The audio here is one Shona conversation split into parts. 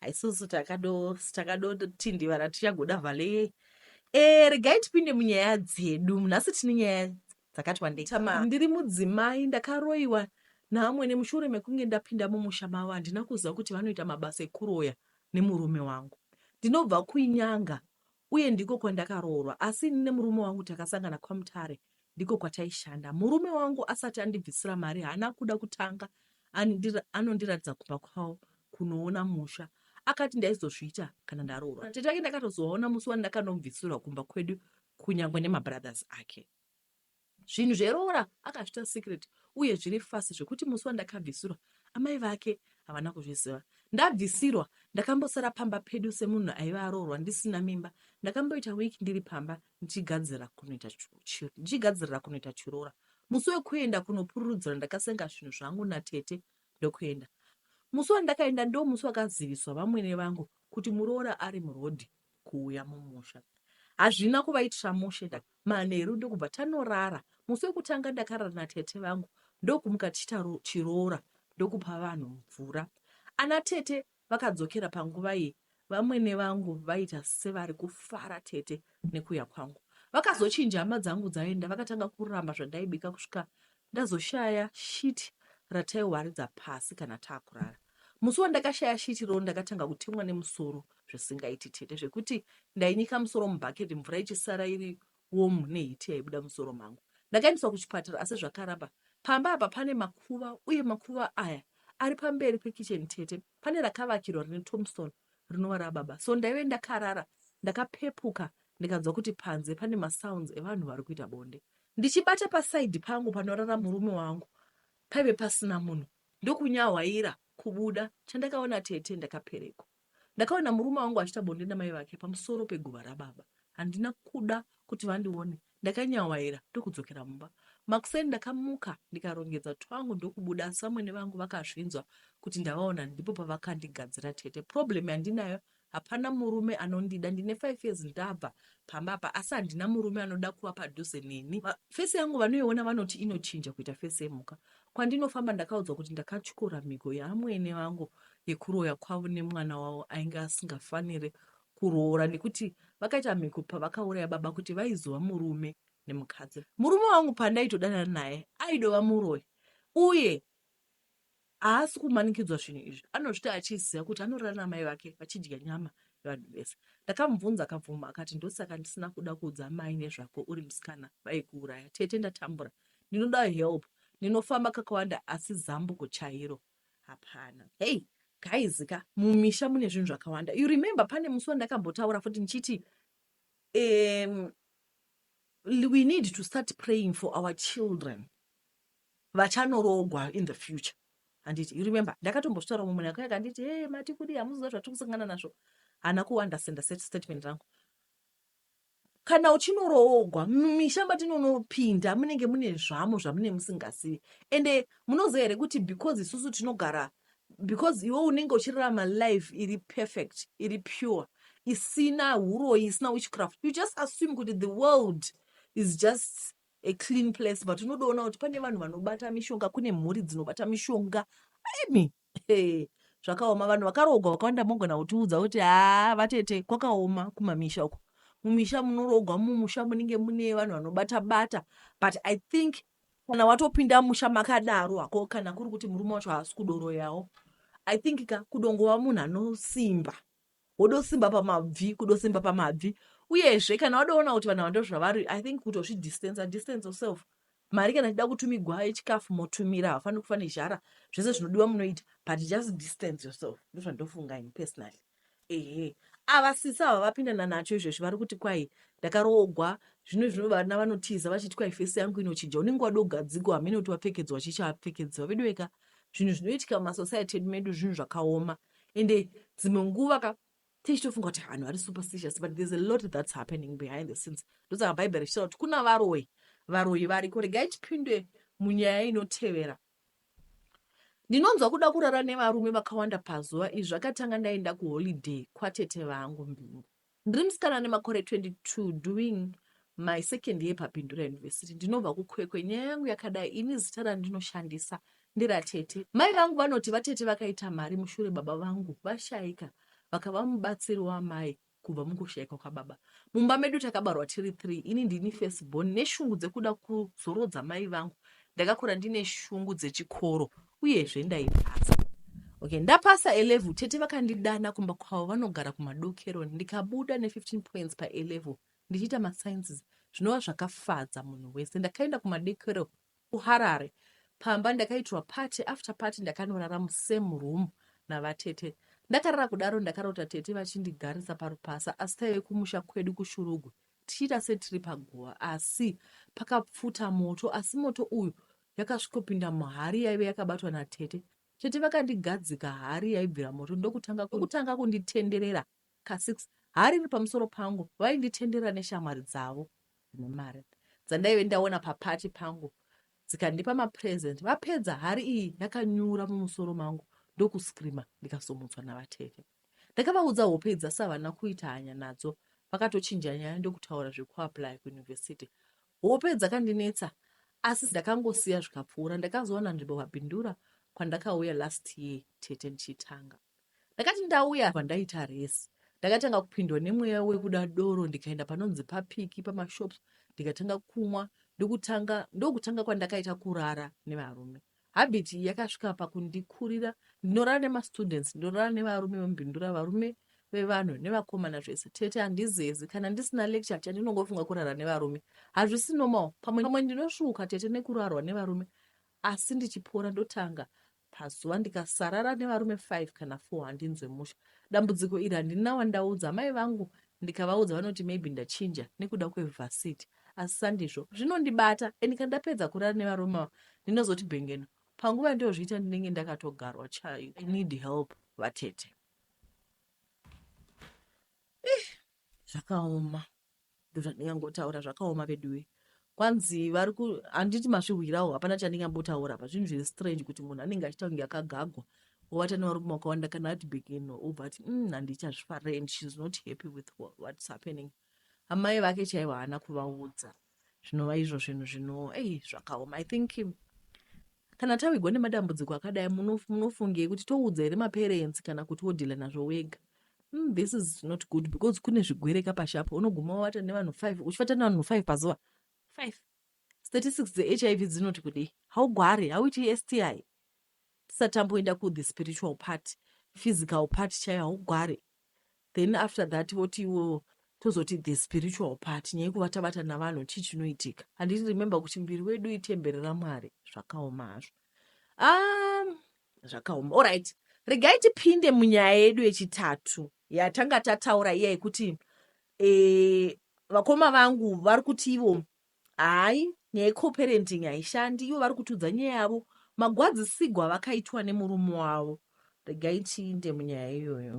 haisusu takadotindivara tichagoda vale e regai tipinde munyaya dzedu nhasi tine nyaya dzakati wandei ndiri mudzimai ndakaroiwa naamwene mushure mekunge ndapinda mumusha mavo handina kuziva kuti vanoita mabasa ekuroya nemurume wangu ndinobva kuinyanga uye ndiko kwandakaroorwa asi ini nemurume wangu takasangana kwaMutare ndiko kwataishanda. Murume wangu asati andibvisira mari haana kuda kutanga anondiratidza kumba kwavo kunoona musha akati ndaizozviita kana ndaroorwa. Tete vake ndakatozovaona musi wandakanomubvisirwa kumba kwedu kunyangwe nemabrothers ake. Zvinhu zveroora akazviita secret uye zviri fast zvekuti musi wandakabvisirwa amai vake havana kuzviziva. Ndabvisirwa ndakambosara pamba pedu semunhu aive aroorwa ndisina mimba. Ndakamboita week ndiri pamba ndichigadzirira kunoita ndichigadzirira kunoita chiroora. Musi wekuenda kunopururudzira ndakasenga zvinhu zvangu natete ndokuenda. Musi wandakaenda ndo musi wakaziviswa vamwene vangu kuti muroora ari murodhi kuuya mumusha. Hazvina kuvaitira mushe ndaka Manheru ndokubva tanorara. Musi wekutanga ndakarara natete vangu ndokumuka tichiita chiroora ndokupa vanhu mvura. Ana tete vakadzokera panguva iyi vamwene vangu vaita sevari kufara tete nekuya kwangu. Vakazochinja hama dzangu dzaenda vakatanga kuramba zvandaibika kusvika ndazoshaya shiti rataiwaridza pasi kana taakurara. Musi wandakashaya shiti roll ndakatanga kutemwa nemusoro zvisingaiti tete zvekuti ndainyika musoro mubhaketi mvura ichisara iri womu nehiti yaibuda musoro mangu. Ndakaendeswa kuchipatara asi zvakaramba. Pamba apa pane makuva uye makuva aya ari pamberi pekitchen tete. Pane rakavakirwa rine Thompson rinova rababa. So ndaive ndakarara ndakapepuka ndikanzwa kuti panze pane masounds evanhu vari kuita bonde. Ndichibata pasaidi pangu panorara murume wangu paive pasina munhu ndokunyahwaira kubuda chandakaona tete ndakapereko ndakaona murume wangu achita bonde namai vake pamusoro peguva rababa handina kuda kuti vandione ndakanyahwaira ndokudzokera mumba makuseni ndakamuka ndikarongedza twangu ndokubuda asi vamwene vangu vakazvinzwa kuti ndavaona ndipo pavakandigadzira tete problem yandinayo Hapana murume anondida ndine five years ndabva pamba apa asi handina murume anoda kuva padhuze neni. Fesi yangu vanoiona vanoti inochinja kuita fesi yemhuka. Kwandinofamba ndakaudzwa kuti ndakatyora mhigo yaamwene vangu yekuroya kwavo nemwana wavo ainge asingafanire kuroora nekuti vakaita mhigo pavakauraya baba kuti vaizova murume nemukadzi. Murume wangu pandaitodanana naye aidova muroyi uye haasi kumanikidzwa zvinhu izvi anozviti achiziva kuti anorara namai vake vachidya nyama yevanhu vese ndakamubvunza akabvuma akati ndosaka ndisina kuda kuudza mai nezvako uri musikana vaikuuraya tete ndatambura ndinoda help ndinofamba kakawanda asi zambuko chairo hapana hei gaizika mumisha mune zvinhu zvakawanda you remember pane musi wandakambotaura futi ndichiti um, we need to start praying for our children vachanoroogwa in the future handiti you remember ndakatombozvitaura mumwe nako yake handiti hey mati kudii hamuziva zvatiri kusangana nazvo hana kuwandasenda statement rangu kana uchinoroogwa mumisha matinonopinda munenge mune zvamo zvamune musingazivi ende munoziva here kuti because isusu tinogara because iwe unenge uchirarama life iri perfect iri pure isina uroyi isina witchcraft you just assume kuti the world is just a clean place but unodoona kuti pane vanhu vanobata mishonga kune mhuri dzinobata mishonga imi hey, zvakaoma vanhu vakaroogwa vakawanda mogona kutiudza kuti haa vatete kwakaoma kumamisha uko mumisha munoroogwa mumusha munenge mune vanhu vanobata bata but i think kana watopinda musha makadaro hako kana kuri kuti murume wacho haasi kudoroyawo i think ka kudongova munhu anosimba wodosimba pamabvi kudosimba pamabvi uyezve kana wadoona kuti vanhu vando zvavari i think kutozvidistancer distance yourself mari kana ichida kutumigwa yechikafu motumira hafani kufa nezhara zvese zvinodiwa munoita but just distance yourself ndozvandofunga ini personally ehe ava sisi ava vapindana nacho izvezvi vari kuti kwai ndakaroogwa zvino zvino vana vanotiza vachiti kwai fesi yangu inochinja unenge wadi ugadziko hamene kuti wapfekedzwa chii chawapfekedzwa veduweka zvinhu zvinoitika mumasociety edu medu zvinhu zvakaoma ende dzimwe nguva ka tichitofunga kuti vanhu vari superstitious but there's a lot that's happening behind the scenes ndosaka bhaibheri richitaura kuti kuna varoyi varoyi variko regai tipindwe munyaya inotevera ndinonzwa kuda kurara nevarume vakawanda pazuva izvi zvakatanga ndaenda kuholiday kwatete vangu mbingu Ndiri musikana ane makore 22 doing my second year paPindura University. Ndinobva kuKwekwe. Nyaya yangu yakadai ini zita randinoshandisa nderatete. Mai vangu vanoti vatete vakaita mari mushure baba vangu vashaika vakava mubatsiri wamai kubva mukoshaikwa kwababa mumba medu takabarwa tiri three ini ndini first born neshungu dzekuda kuzorodza mai vangu ndakakura ndine shungu dzechikoro uyezve ndaipasa okay ndapasa elevel tete vakandidana kumba kwavo vanogara kumadokero ndikabuda ne15 points paelevel ndichiita masciences zvinova zvakafadza munhu wese ndakaenda kumadekero kuharare pamba ndakaitirwa party after party ndakanorara musame room navatete ndakarara kudaro ndakarota tete vachindigarisa parupasa asi taive kumusha kwedu kushurugwi tichiita setiri paguva asi pakapfuta moto asi moto uyu Ndakasvikopinda muhari yaive yakabatwa natete. Tete vakandigadzika hari yaibvira moto ndokutanga ndokutanga kunditenderera kasix hari iri pamusoro pangu. Vainditenderera neshamwari dzavo dzine mari dzandaive ndaona papati pangu dzikandipa mapresent. Vapedza hari iyi yakanyura mumusoro mangu ndokuscreamer ndikasumutswa navatete. Ndakavaudza hope idzi asi havana kuita hanya nadzo vakatochinja nyaya ndokutaura zvekuapply kuuniversity. Hope dzakandinetsa asi ndakangosiya zvikapfuura. Ndakazowana nzvimbo paBindura kwandakauya last year tete ndichitanga. Ndakati ndauya apa ndaita resi ndakatanga kupindwa nemweya wekuda doro ndikaenda panonzi papiki pamashops ndikatanga kumwa ndokutanga ndokutanga kwandakaita kurara nevarume Habit iyi yakasvika pakundikurira ndinorara nemastudents, ndinorara nevarume vemubhindura, varume vevanhu nevakomana zvese. Tete handizezi, kana ndisina lecture chandinongofunga kurara nevarume. Hazvisi normal, pamwe pamwe ndinosvuuka tete nekurarwa nevarume asi ndichipora ndotanga pazuva ndikasarara nevarume 5 kana 4 handinzwe musha. Dambudziko iri handina wandaudza, amai vangu ndikavaudza vanoti maybe ndachinja nekuda kwevhasiti. asi sandizvo zvinondibata and kana ndapedza kurara nevarume ava ndinozoti bhengeno panguva yandiyozviita ndinenge ndakatogarwa chayo i need help vatete zvakaoma ndozvandingangotaura zvakaoma veduwe kwanzi vari ku handiti masvihwirawo hapana chandingambotaura pa zvinhu zviri strange kuti munhu anenge achiita kunge akagagwa ovata nevarume wakawanda kana ati begeno obva ati mm, handichazvifarei and she's not happy with what's happening amai vake chaivo haana kuvaudza zvinova izvo zvinhu zvino ei zvakaoma i think kana tawigwa nemadambudziko akadai munofungei kuti toudza here maparents kana kuti wodhila nazvo wega mm, this is not good because kune zvigwereka pashi apo unoguma wavata nevanhu five uchivata nevanhu five pazuva five statistics dzehiv dzinoti kudei haugware hauiti sti tisatamboenda kuthe spiritual part physical part chaiyo haugware Then after that voti ivo tozoti the spiritual part nyaya yekuva tabata navanhu chii chinoitika handiti remember kuti muviri wedu itemberi ramwari zvakaoma hazvo um, zvakaoma allright regai tipinde munyaya yedu yechitatu yatanga tataura iya yekuti e, vakoma vangu vari kuti ivo Hayi nyaya ye coparenting haishandi ivo vari kutiudza nyaya yavo magwadzisigwa avakaitwa nemurume wavo regai tiinde munyaya iyoyo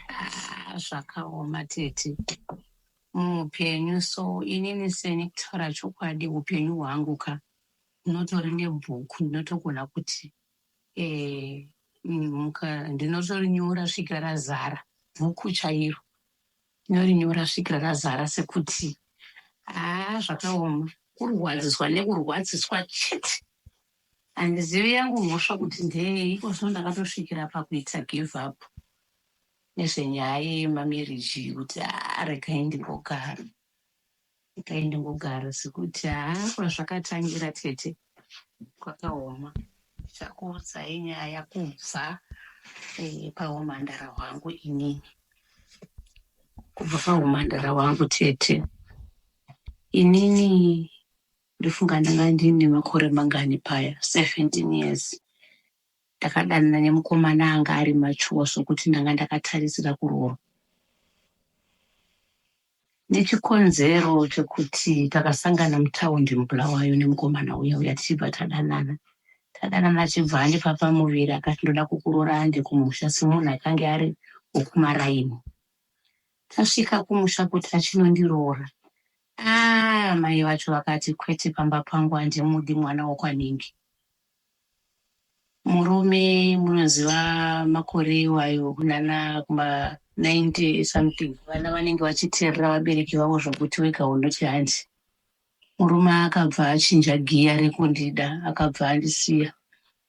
Ah, zvakaoma tete muupenyu so inini seni kutaura chokwadi upenyu hwangu ka ndinotori nebhuku ndinotogona kuti Eh, muka ndinotorinyora svika razara bhuku chairo ndinorinyora svika razara sekuti haa zvakaoma kurwadziswa nekurwadziswa chete handizivi yangu mhosva kuti ndeyei iko zvino ndakatosvikira pakuita give up nezvenyaya yemameriji kuti haa regai ndimbogara Ndikaenda kugara sekuti haa kwazvakatangira tete kwakaoma. Ndichakuudzai nyaya kubva eh, pahumhandara hwangu inini. Kubva pahumhandara hwangu tete. Inini ndofunga ndanga ndine makore mangani paya 17 years ndakadanana nemukomana anga ari machuwa sokuti ndanga ndakatarisira kuroorwa Nechikonzero chekuti takasangana mutaundi muBulawayo nemukomana uya uya tichibva tadanana. Tadanana achibva andipa pamuviri akati ndoda kukuroora ande kumusha semunhu akange ari wokumaraini. Tasvika kumusha kuti achinondiroora. Ah, mai vacho vakati kwete pamba pangu handimudi mwana wokwanhingi. Murume munoziva makore iwayo kunana kuma 90 something vana vanenge vachiteerera vabereki vavo zvokuti wega unoti hanzi. Murume akabva achinja giya rekundida akabva andisiya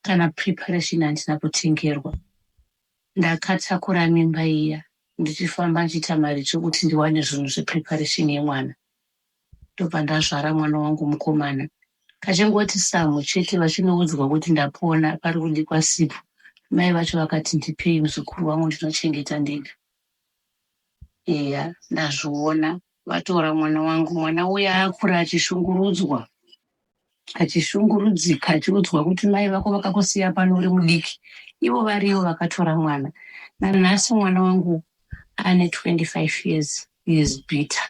kana preparation handina kutengerwa. Ndakatakura mimba iya ndichifamba ndichiita maricho kuti ndiwane zvinhu zvepreparation yemwana. ndobva ndazvara mwana wangu mukomana. Kachingoti samhu chete vachinoudzwa kuti ndapona pari kudikwa sipo. Mai vacho vakati ndipei muzukuru wangu ndinochengeta ndega. Eya ndazviona vatora mwana wangu mwana uya akura achishungurudzwa achishungurudzika achiudzwa kuti mai vako vakakusiya pano uri mudiki ivo variyo vakatora mwana nanhasi mwana wangu ane 25 years he is bitter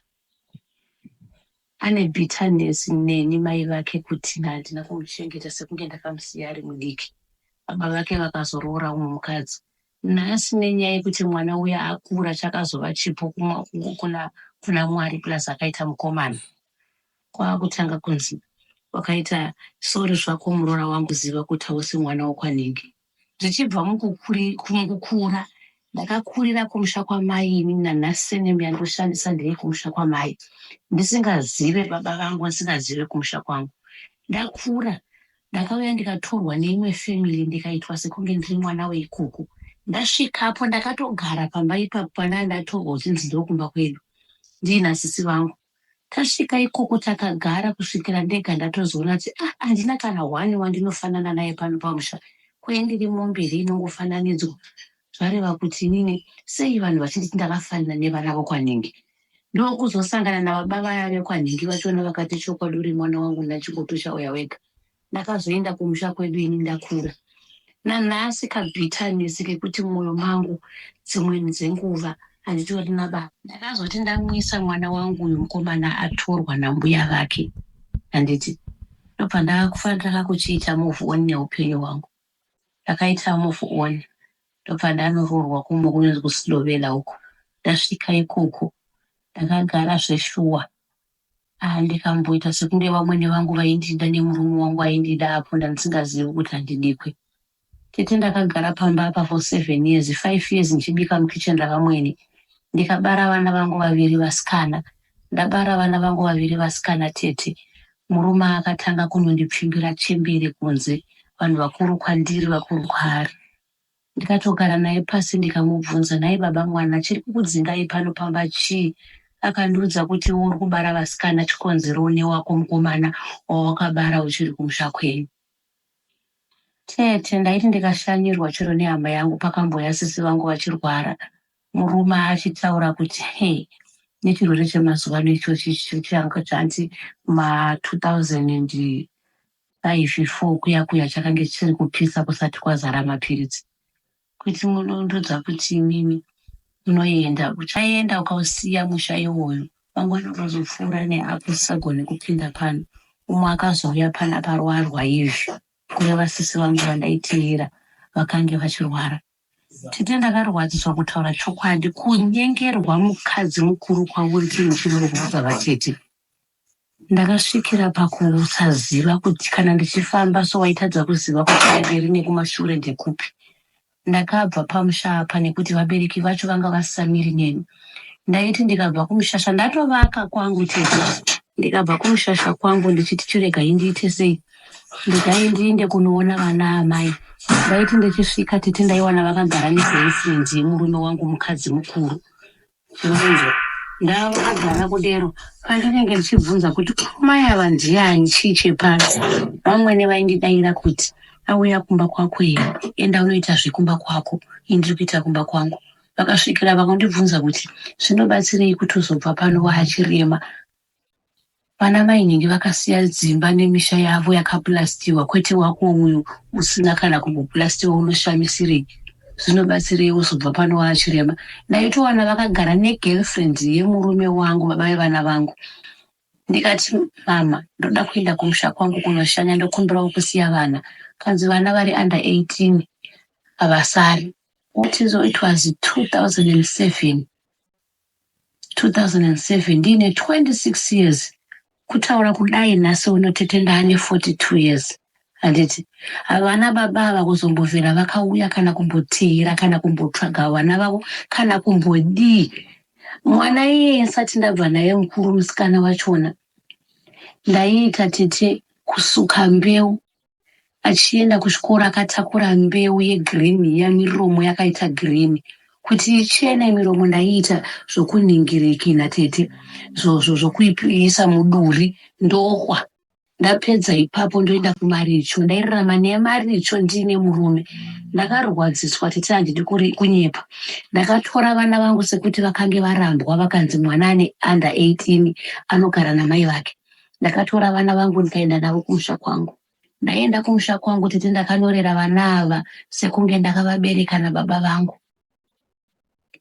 Ane bitterness neni mai vake kuti handina kumuchengeta sekunge ndakamusiya ari mudiki. Baba vake vakazoroora umwe mukadzi nhasi nenyaya yekuti mwana uya akura chakazova chipo kuna kuna Mwari plus akaita mukomana. Kwakutanga kunzi wakaita sorry zvako muroora wangu ziva kuti hausi mwana wekwanhingi. Zvichibva mukukura ndakakurira kumusha kwamai ini nanasinem yandoshandisa ndiri kumusha kwamai ndisingazive baba vangu ndisingazive kumusha kwangu ndakura ndakauya ndikatorwa neimwe family ndikaitwa sekunge ndiri mwana weikoko ndasvikapo ndakatogara pamba ipapo pandaa ndatorwa kuti ndidzokumba kwedu ndiina sisi vangu Tasvika ikoko takagara kusvikira ndega ndatozoona kuti ah handina kana one wandinofanana naye pano pamusha kwee ndiri mombe here inongofananidzwa zvareva kuti inini sei vanhu vachinditi ndakafanana nevana vokwanhingi ndokuzosangana nababa vaya vekwanhingi vachiona vakati chokwadi uri mwana wangu naChingoto chauya wega Ndakazoenda kumusha kwedu ini ndakura. Nanhasi kabitterness kekuti mumwoyo mangu dzimwe dzenguva handitori nababa. Ndakazoti ndamwisa mwana wangu uyu mukomana atorwa nambuya vake handiti ndobva ndakakufanira kuchiita move on neupenyu hwangu. Ndakaita move on ndobva ndanoroorwa kumwe kunonzi kuSlovela uko. Ndasvika ikoko ndakagara zveshuwa Ah, ndikamboita sekunge vamwene vangu vaindida nemurume wangu aindida apo ndandisingazivi kuti handidikwe tete ndakagara pamba apa for seven years five years ndichibika mukitchen ravamwene ndikabara vana vangu vaviri vasikana ndabara vana vangu vaviri vasikana tete murume akatanga kunondipfimbira chembere kunze vanhu vakuru kwandiri vakuru kwaari Ndikatogara naye pasi ndikamubvunza nhai baba mwana chiri kukudzingai pano pamba chii akandiudza kuti iwe uri kubara vasikana chikonzero une wako mukomana wawakabara uchiri kumusha kwenyu Tete ndaiti ndikashanyirwa chero nehama yangu pakamboya sisi vangu vachirwara murume achitaura kuti he nechirwere chemazuva ano ichochi chichanga chanti ma 2000 and Five four kuya kuya chakange chichiri kupisa kusati kwazara mapiritsi. Kuti munondiudza kuti imimi munoenda uchaenda ukausiya musha iwoyo mangwana ukazopfuura neapo usisagone kupinda pano umwe akazouya pana parwarwa izvi kureva sisi vangu vandaiteera vakange vachirwara Tete ndakarwadziswa kutaura chokwadi kunyengerwa mukadzi mukuru kwauri chinhu chinorwadza vatete Ndakasvikira pakusaziva kuti kana ndichifamba so waitadza kuziva kuti kumberi nekumashure ndekupi. Ndakabva pamusha apa nekuti vabereki vacho vanga vasisamiri neni. Ndaiti ndikabva kumushasha ndatovaka kwangu tete. Ndikabva kumushasha kwangu ndichiti chiregai ndiite sei? Regai ndiinde kunoona vana amai. Ndaiti ndichisvika tete ndaiwana vakagara neBoyfriend yemurume wangu mukadzi mukuru. Unonzwa? Ndava kugara kudero pandinenge ndichibvunza kuti mai ava ndiani chii chepano. Vamwene vaindidaira kuti auya kumba kwako here enda unoita zvekumba kwako ini ndiri kuita kumba kwangu. Vakasvikira vakandibvunza kuti zvinobatsirei kuti uzobva pano waachirema Vana mainingi vakasiya dzimba nemisha yavo yakapulastiwa kwete wako uyu usina kana kumbopulastiwa unoshamisirei zvinobatsirei wozobva pano waachirema ndaitowana vakagara negirlfriend yemurume wangu baba vevana vangu ndikati mama ndoda kuenda kumusha kwangu kunoshanya ndokumbirawo kusiya vana kanzi vana vari under 18 havasari utizo it was 2007 2007 ndiine 26 years kutaura kudai nhasi uno tete ndaane 42 years handiti havana baba ava kuzombovera vakauya kana kumboteera kana kumbotsvaga vana vavo kana kumbodii mwana iyeye ndisati ndabva naye mukuru musikana wachona ndaiita tete kusuka mbeu achienda kuchikoro akatakura mbeu yegreen iya miromo yakaita green kuti ichene miromo ndaiita zvokunhingirikina tete zvozvo zvokuiisa muduri ndokwa ndapedza ipapo ndoenda kumaricho ndairarama nemaricho ndiine murume ndakarwadziswa tete handidi kunyepa ndakatora vana vangu sekuti vakange varambwa vakanzi mwana ane under 18 anogara namai vake ndakatora vana vangu ndikaenda navo kumusha kwangu ndaienda kumusha kwangu tete ndakanyorera vana ava sekunge ndakavabereka nababa vangu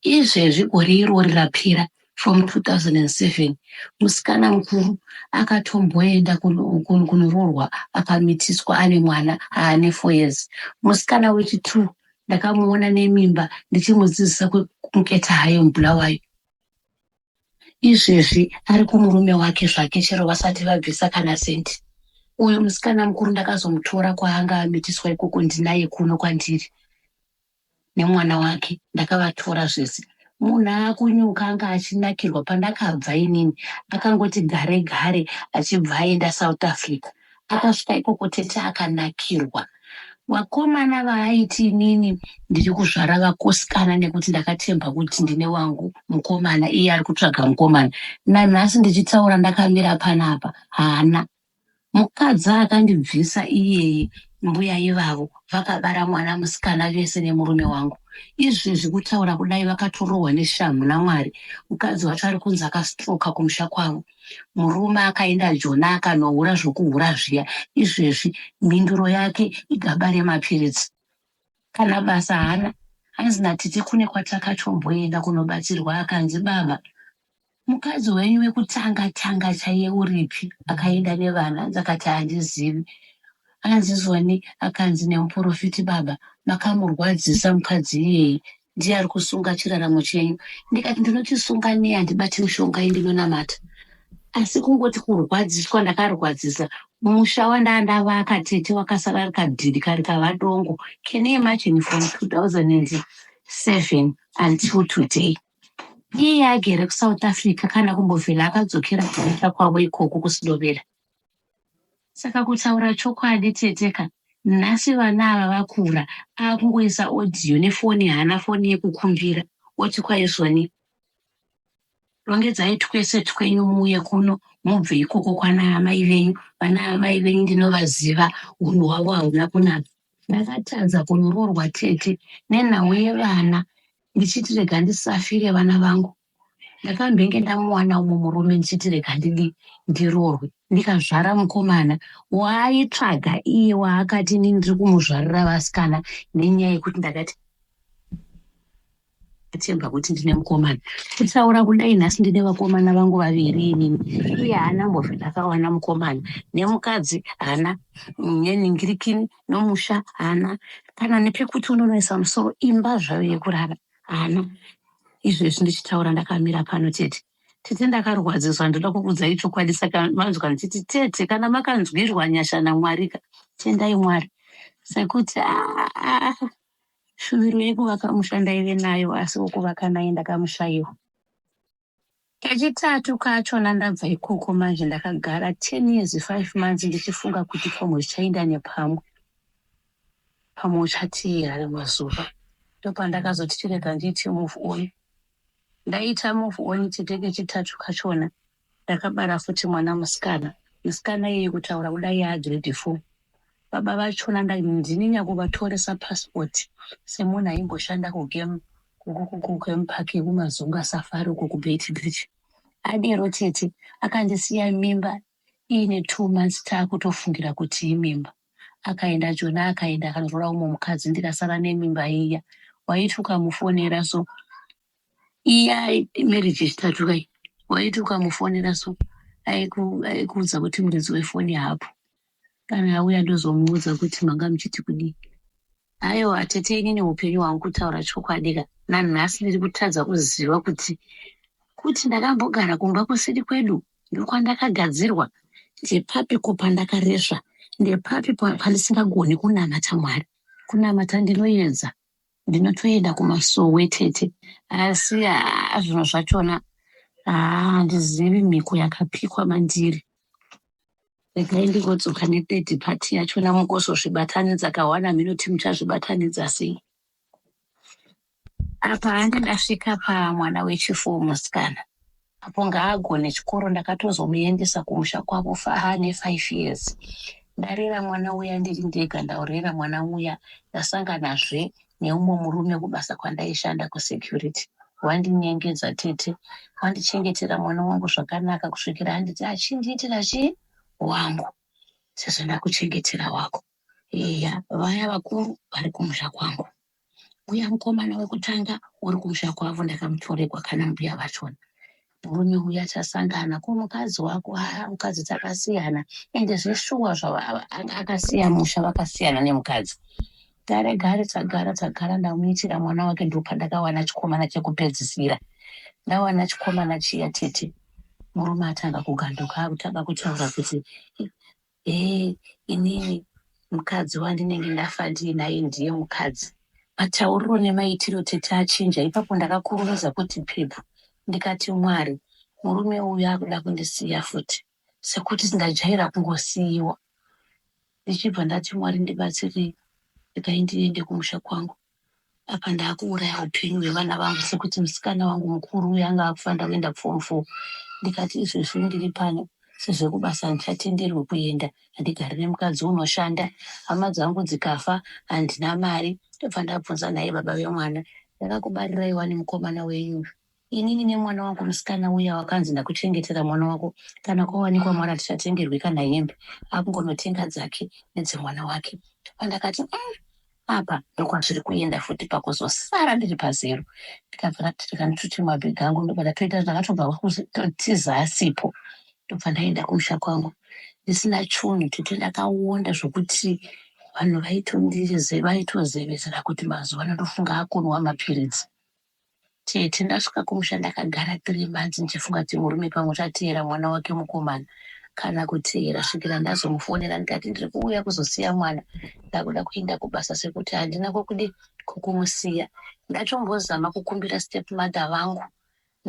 izvezvi gore irori rapira from 2007 musikana mukuru akatomboenda kunoroorwa akamitiswa ane mwana aane four years musikana wechitwo ndakamuona nemimba ndichimudzidzisa kumuketa hayo mubulawayo izvezvi ari kumurume wake zvake chero vasati vabvisa kana sendi uyu musikana mukuru ndakazomutora kwaanga amitiswa ikoko ndinaye kuno kwandiri nemwana wake ndakavatora zvese munhu akunyuka anga achinakirwa pandakabva inini akangoti gare gare achibva aenda south africa Akasvika ikoko tete akanakirwa vakomana vaaiti inini ndiri kuzvara vakosikana nekuti ndakatemba kuti ndine wangu mukomana iye ari kutsvaga mukomana. Nanhasi ndichitaura ndakamira panapa haana mukadzi akandibvisa iyeye mbuya ivavo vakabara mwana musikana vese nemurume wangu. Izvezvi kutaura kudai vakatorohwa neshamhu naMwari. Mukadzi wacho ari kunzi akastroka kumusha kwavo. Murume akaenda joni akanohura zvokuhura zviya, izvezvi mhinduro yake igaba remapiritsi. Kana basa haana, hanzi naTiti kune kwatakatomboenda kunobatsirwa akanzi, Baba, mukadzi wenyu wekutanga-tanga chaiye uripi? Akaenda nevana, hanzi akati, Handizivi. hanzi zwani akanzi nemuporofiti baba makamurwadzisa mukadzi iyeye ndiye ari kusunga chiraramo chenyu ndikati ndinochisunga nei handibati mushonga indinonamata asi kungoti kurwadziswa ndakarwadzisa musha wandaa ndavaka tete wakasara ari kadhiri kari kavadongo can you imagine from 2007 until today iye agere kusouth africa kana kumbovhela akadzokera kuita kwavo ikoko kusidovera Saka kutaura chokwadi tete ka nhasi vana ava vakura akungoisa audio nefoni haana foni yekukumbira oti kwaizoni rongedzai twese twenyu muuye kuno mubve ikoko kwana amai venyu vana amai venyu ndinovaziva unhu hwavo hauna kunaka ndakatadza kunoroorwa tete nenhau yevana ndichiti rega ndisafire vana vangu Ndakambenge ndamuwana umo murume ndichiti rega ndidi ndiroorwe ndikazvara mukomana waaitsvaga iye waakati ini ndiri kumuzvarira vasikana nenyaya yekuti ndakati atemba kuti ndine mukomana kutaura kudai nhasi ndine vakomana vangu vaviri inini iye haana mbozve ndakawana mukomana nemukadzi haana neningirikini nomusha haana kana nepekuti unonoisa musoro imba zvayo yekurara Hana. Izvezvi ndichitaura ndakamira pano tete. Tete ndakarwadziswa ndoda kukudzai chokwadi saka manzwa ndichiti tete kana makanzwirwa nyasha naMwarika tendai Mwari sekuti ah, shuviro yekuvaka musha ndaive nayo asi wokuvaka naye ndakamushaiwa. Kechitatu kachona ndabva ikoko manje ndakagara ten years five months ndichifunga kuti pamwe zvichainda nepamwe pamwe uchatiira rimwe zuva ndopandakazoti chirega ndiite move on ndaita move on chete kechitatu kachona ndakabara futi mwana musikana musikana iye kutaura kudai yaa grade four baba vachona ndini nyakuvatoresa passport semunhu aimboshanda kugame kugame park yekumazungu asafari uko kubeit bridge adero tete akandisiya mimba iine two months taakutofungira kuti imimba akaenda jona akaenda akanoroora umwe mukadzi ndikasara nemimba iya waiti ukamufonera so iya marriage yechitatu kai waiti ukamufonera so aikuudza kuti muridzi wefoni haapo Kana auya ndozomuudza kuti manga muchiti kudii. Ayewa tete inini hupenyu hwangu kutaura chokwadi ka nanhasi ndiri kutadza kuziva kuti kuti ndakambogara kumba kusiri kwedu ndokwandakagadzirwa ndepapi ko pandakaresva ndepapi pa- pandisingagoni kunamata mwari kunamata ndinoedza ndinotoenda kumasowe tete asi haa zvinhu zvachona haa handizivi mhiko yakapikwa mandiri regai ndingodzoka nethird party yachona mukuzozvibatanidza kawana mhino ti muchazvibatanidza sei apa handi ndasvika pamwana wechifour musikana Apo ngaagone chikoro ndakatozomuendesa kumusha kwavo far ne five years ndarera mwana uya ndiri ndega ndaurera mwana uya ndasanganazve neumwe murume kubasa kwandaishanda kusecurity wandinyengedza tete wandichengetera mwana wangu zvakanaka kusvikira anditi achindiitira chii wangu sezvo ndakuchengetera wako iya vaya vakuru vari kumusha kwangu uya mukomana wekutanga uri kumusha kwavo ndakamutoregwa kana mbuya vachona murume uya chasangana ko mukadzi wako haa mukadzi takasiyana ende zveshuwa zvakasiya musha vakasiyana nemukadzi gare gare tagara tagara ndamuitira mwana wake ndopandakawana chikomana chekupedzisira ndawana chikomana chiya tete murume atanga kuganduka akutanga kutaura kuti hee inini mukadzi wandinenge ndafa ndiinaye ndiye mukadzi matauriro nemaitiro tete achinja ipapo ndakakurumidza kuti pepu ndikati mwari murume uyu akuda kundisiya futi sekuti ndajaira kungosiyiwa ndichibva ndati mwari ndibatsirei regai ndiende kumusha kwangu apa ndakuuraya upenyu hwevana vangu sekuti musikana wangu mukuru uyo anga akufanira kuenda form four ndikati izvezvi ndiri pano sezvekubasa handichatenderwi kuenda handigari nemukadzi unoshanda hama dzangu dzikafa handina mari ndobva ndabvunza nhai baba vemwana ndakakubarirai wani mukomana wenyu uyu Inini nemwana wangu musikana uya wakanzi ndakuchengetera mwana wako kana kwawanikwa mwana tichatengerwi kana hembe akungonotenga dzake nedzemwana wake pandakati mm, apa ndokwazviri kuenda futi pakuzosara ndiri pazero ndikabva ndatirika ndituti mabhegi angu ndobva ndatoita ndakatobva kutiza asipo ndobva ndaenda kumusha kwangu ndisina chunhu tete ndakawonda zvokuti vanhu vaitozevesera kuti mazuva ano ndofunga akunwa mapiritsi Tete ndasvika kumusha ndakagara three months ndichifunga kuti murume pamwe uchateera mwana wake mukomana kana kuteera svikira ndazomufonera ndikati ndiri kuuya kuzosiya mwana ndakuda kuenda kubasa sekuti handina kwekude kwekumusiya ndatombozama kukumbira step mother vangu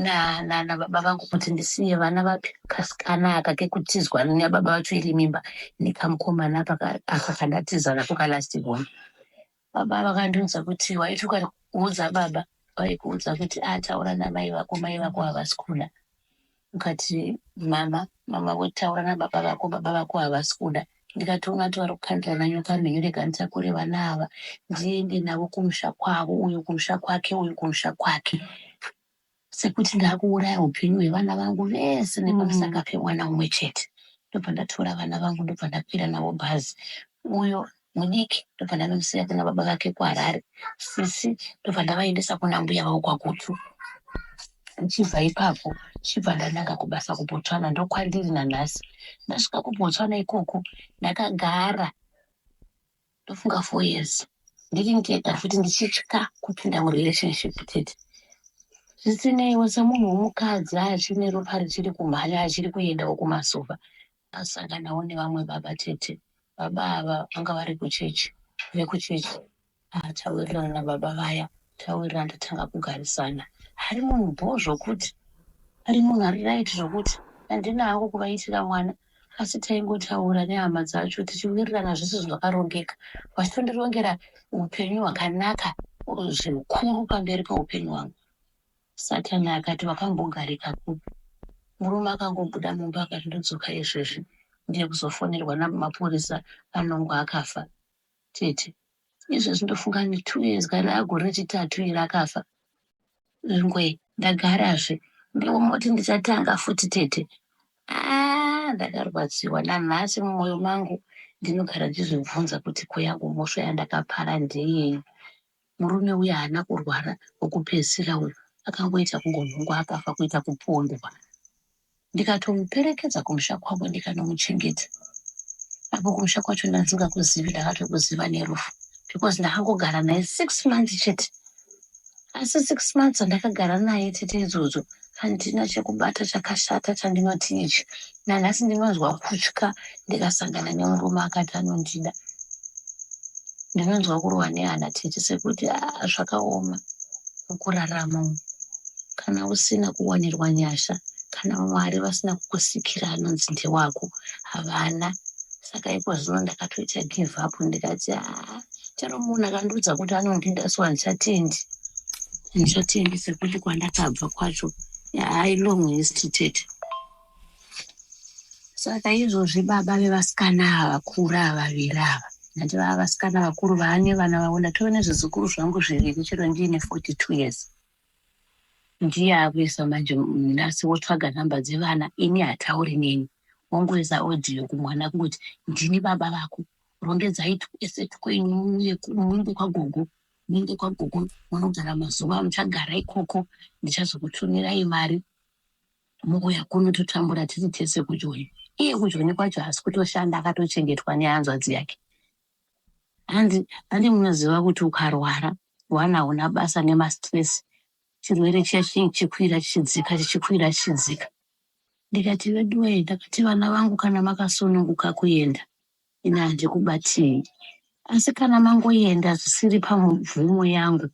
na na na baba vangu kuti ndisiye vana vapi kasikana aka kekutizwa nababa vacho iri mimba nekamukomana aka aka kandatiza nako kalast born Baba vakandiudza kuti waiti ukaudza baba vaikuudza kuti ataura namai vako mai vako havasi kuda ukati mama mama votaura nababa vako baba vako havasi kuda ndikati ungati vari kukandira nanyoka mhenyu rega nditakure vana ava ndiende navo kumusha kwavo uyu kumusha kwake uyu kumusha kwake sekuti ndakuuraya hupenyu hwevana vangu vese nepamusaka pemwana umwe chete ndobva ndatora vana vangu ndobva ndakwira navo bhazi uyo mudiki ndobva ndanomusiya kuna baba vake kuharare sisi ndobva ndavaendesa kuna mbuya vavo kwagutu ndichibva ipapo ndichibva ndananga kubasa kubotswana ndokwandiri nanhasi ndasvika kubotswana ikoko ndakagara ndofunga four years ndiri ndega futi ndichitya kupinda murelationship tete zvisineiwo semunhu womukadzi achine ropa richiri kumhanya achiri kuendawo kumasofa asanganawo nevamwe baba tete baba ava vanga vari kuchechi vekuchechi ah, tawirirana nababa vaya tawirirana ndatanga kugarisana ari munhu bho zvokuti ari munhu ari raiti zvokuti handina hangu kuvaitira mwana Asi taingotaura nehama dzacho tichiwirirana zvese zvakarongeka vachitondirongera upenyu hwakanaka zvikuru pamberi peupenyu hwangu. Satani akati, Wakambogarika kupi? Murume akangobuda mumba akati, Ndodzoka izvezvi ndiye kuzofonerwa namapurisa anongo akafa. Tete. Izvezvi ndofunga ane two years kana agore rechitatu iri akafa. Lngwe. Ndagarazve. Ndiwe moti ndichatanga futi tete. Aah ndakarwadziwa nanhasi mumoyo mangu ndinogara ndichizvibvunza kuti ko yangu mhosva yandakapara ndeyei. Murume uya haana kurwara wekupedzisira uyu akangoita kungonhongwa akafa kuita kupondwa ndikatomuperekedza kumusha kwavo ndikanomuchengeta apo kumusha kwacho ndasingakuzivi ndakatokuziva nerufu because ndakangogara naye six months chete asi six months andakagara naye tete idzodzo handina chekubata chakashata chandinoti ichi nanhasi ndinonzwa kutya ndikasangana nemurume akati anondida ndinonzwa kurwa nehana tete sekuti ah, zvakaoma mukurarama umu kana usina kuwanirwa nyasha kana mwari vasina kukusikira anonzi ndewako havana saka ipo zvino ndakatoita give up ndikati aa ah, chero munhu akandiudza kuti anondida so handichatendi handichatendi sekuti kwandakabva kwacho yaa ilong history tete Saka izvozvi baba vevasikana ava vakura vaviri ava ndati vava vasikana vakuru vaane vana vavo ndatove nezvizukuru zvangu zviviri chero ndiine 42 years ndiye akuisa manje nhasi wotsvaga nhamba dzevana ini hatauri neni wongoisa audio kumwana kungoti ndini baba vako rongedzai tueseti kwenyu muende kwagogo muende kwagogo munogara mazuva muchagara ikoko ndichazokutumirai mari Mouya kuno totambura tiri tese kujoni. Iye kujoni kwacho haasi kutoshanda akatochengetwa nehanzvadzi yake. Handi handi munoziva kuti ukarwara one hauna basa nemastress chirwere chiya chinenge chichikwira chichidzika chichikwira chichidzika. Ndikati veduwee ndakati vana vangu kana makasununguka kuenda ini handikubatii. Asi kana mangoenda zvisiri pamvumo yangu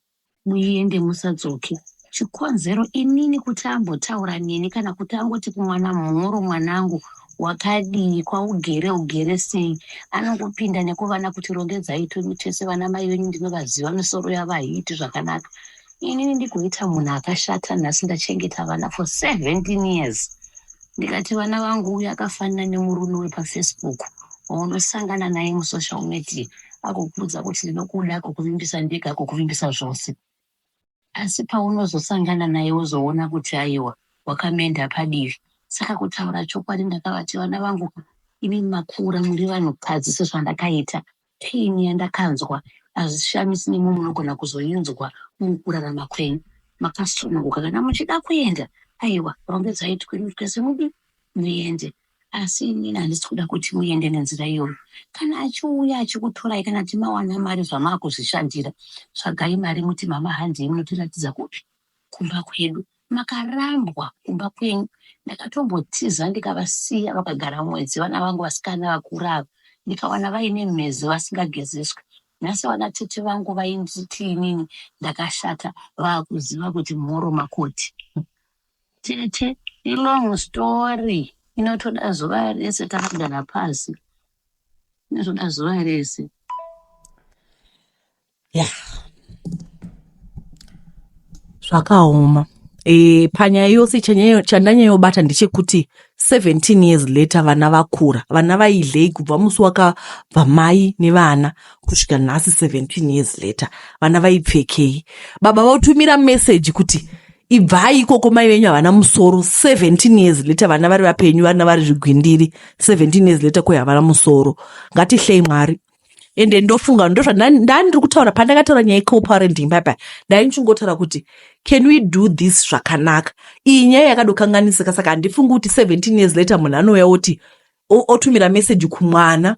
Muende musadzoke. Chikonzero inini kuti ambotaura neni kana kuti angoti kumwana mhoro mwanangu wakadii kwaugere ugere sei anongopinda nekuvana kuti rongedzai tumi tese vana mai venyu ndinovaziva misoro yavo haiiti zvakanaka inini ndigoita munhu akashata nhasi ndachengeta vana for 17 years ndikati vana vangu uyu akafanana nemurume wepafacebook waunosangana naye musocial media agokuudza kuti ndinokuda kukuvimbisa ndega kukuvimbisa zvose asi paunozosangana naye wozoona kuti aiwa wakamenda padivi saka kutaura chokwadi ndakavati vana vangu ini makura muri vanhukadzi sezvandakaita pain yandakanzwa hazvishamisi nemo munogona kuzoinzwa mukurarama kwenyu makasununguka kana muchida kuenda aiwa rongedzai twinutwe semudi muende Asi inini handisi kuda kuti muende nenzira iyoyo. Kana achiuya achikutorai kana kuti mawana mari zvamavakuzvishandira, tsvagai mari muti mama handei munotiratidza kupi? Kumba kwedu. Makarambwa kumba kwenyu. Ndakatombotiza ndikavasiya vakagara mwedzi vana vangu vasikana vakura ava ndikawana vaine mhezi vasingagezeswe. Nhasi vana tete vangu vainditi inini ndakashata vakuziva kuti mhoro makoti. Tete ilong story inotoda zuva rese takagara pasi inotoda zuva rese ya zvakaoma e, panyaya yose chandanyayobata ndechekuti 17 years later vana vakura vana vaidlei kubva musi wakabva mai nevana kusvika nhasi 17 years later vana vaipfekei baba vautumira meseji kuti ibvai ikoko mai venyu havana musoro 17 years later vana vari vapenyu varina vari zvigwindiri 17 years later koi havana musoro ngatihlei mwari ende ndofunga ndozva ndani ndiri kutaura pandakataura nyaya yecoparenting paipai ndai ndichingotaura kuti can we do this zvakanaka iyi nyaya yakadokanganisika saka handifungi kuti 17 years later munhu anouya oti otumira meseji kumwana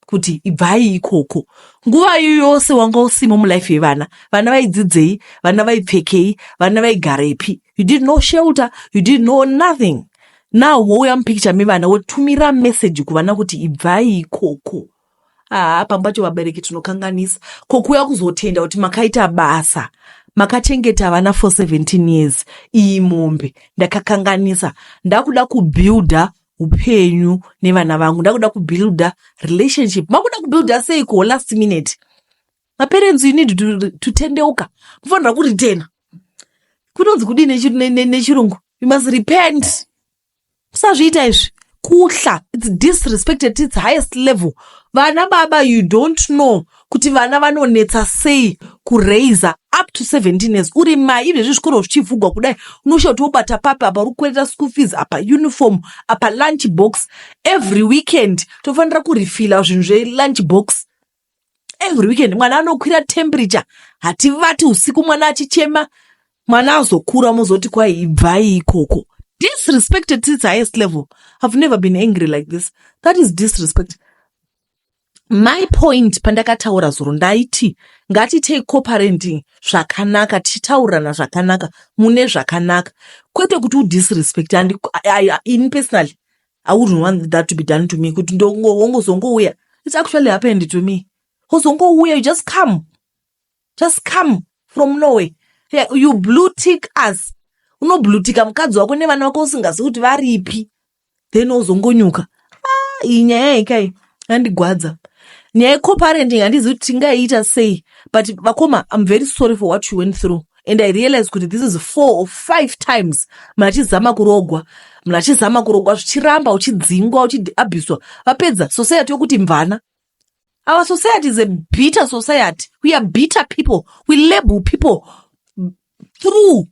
kuti ibvai ikoko nguva iyo yose wanga usimo mulife yevana vana vaidzidzei vana vaipfekei vana vaigarepi you did no shelter you did no nothing now wouya mupicture mevana wotumira message kuvana kuti ibvai ikoko haa pambacho vabereki tinokanganisa ko kuuya kuzotenda kuti makaita basa makachengeta vana for 17 years iyi mombe ndakakanganisa ndakuda kubuilder hupenyu nevana vangu ndakuda kubuilda relationship makuda kubuilda sei kuho last minute maparents you need to, to tendeuka mufanira kuritena kunonzi kudii nechirungu you must repent musazviita izvi kuhla its disrespected its highest level vana baba you don't know kuti vana vanonetsa sei kuraiza up to 17 years uri mai ine zvezvikoro zvichivhugwa kudai unosha kuti wobata papi apa uri kukwereta school fees apa uniform apa lunch box every weekend tofanira kurifila zvinhu zvelunch box every weekend mwana anokwira temperature hativati usiku mwana achichema mwana azokura mozoti kwai ibvai ikoko disrespected to its highest level i've never been angry like this that is disrespect My point pandakataura zuro ndaiti ngatitei cooperating zvakanaka tichitaurirana zvakanaka mune zvakanaka kwete kuti udisrespect and in personally i wouldn't want that to be done to me kuti ndongowongozongouya it's actually happened to me wozongouya you just come just come from norway yeah, you blue tick us unoblutika mukadzi wako nevana vako usingazi kuti varipi then ozongonyuka ah, iyi nyaya yekai yandigwadza nyaya yecoparenting handizivi kuti tingaiita sei but vakoma im very sorry for what you went through and i realize kuti this is four or five times munhu achizama kurogwa munhu achizama kurogwa zvichiramba uchidzingwa uchiabhuswa vapedza society yokuti mvana our society is a bitter society we are bitter people we label people through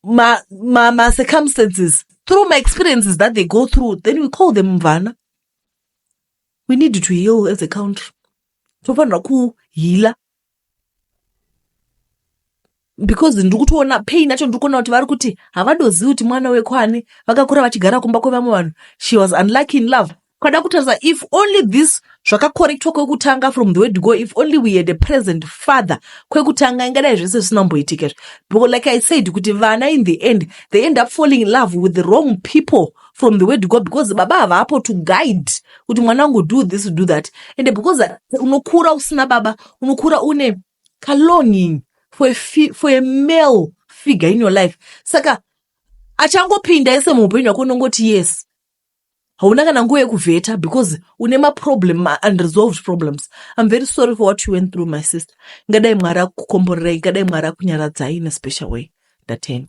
ma, ma, ma circumstances through my experiences that they go through then we call them mvana we need to heal as a country tofanira kuhila because ndiri kutoona pain yacho ndiri kuona kuti vari kuti havadozivi kuti mwana wekwani vakakura vachigara kumba kwevamwe vanhu she was unlucky in love Kwada kutarisa if only this zvakakorektwa kwekutanga from the way to go if only we had a present father kwekutanga ingadai zvese zvisinamboitika izvi because like i said kuti vana in the end they end up falling in love with the wrong people from the way to go because baba havapo to guide kuti mwana wangu do this do that and because unokura usina baba unokura une kalonging for a, for a male figure in your life saka achangopinda ese muupenyu hwako unongoti yes hauna kana nguva yekuvheta because une maproblem maunresolved problems im very sorry for what you went through my sister ngadai mwari akukomborerai ngadai mwari akunyaradzai in a special way ndatenda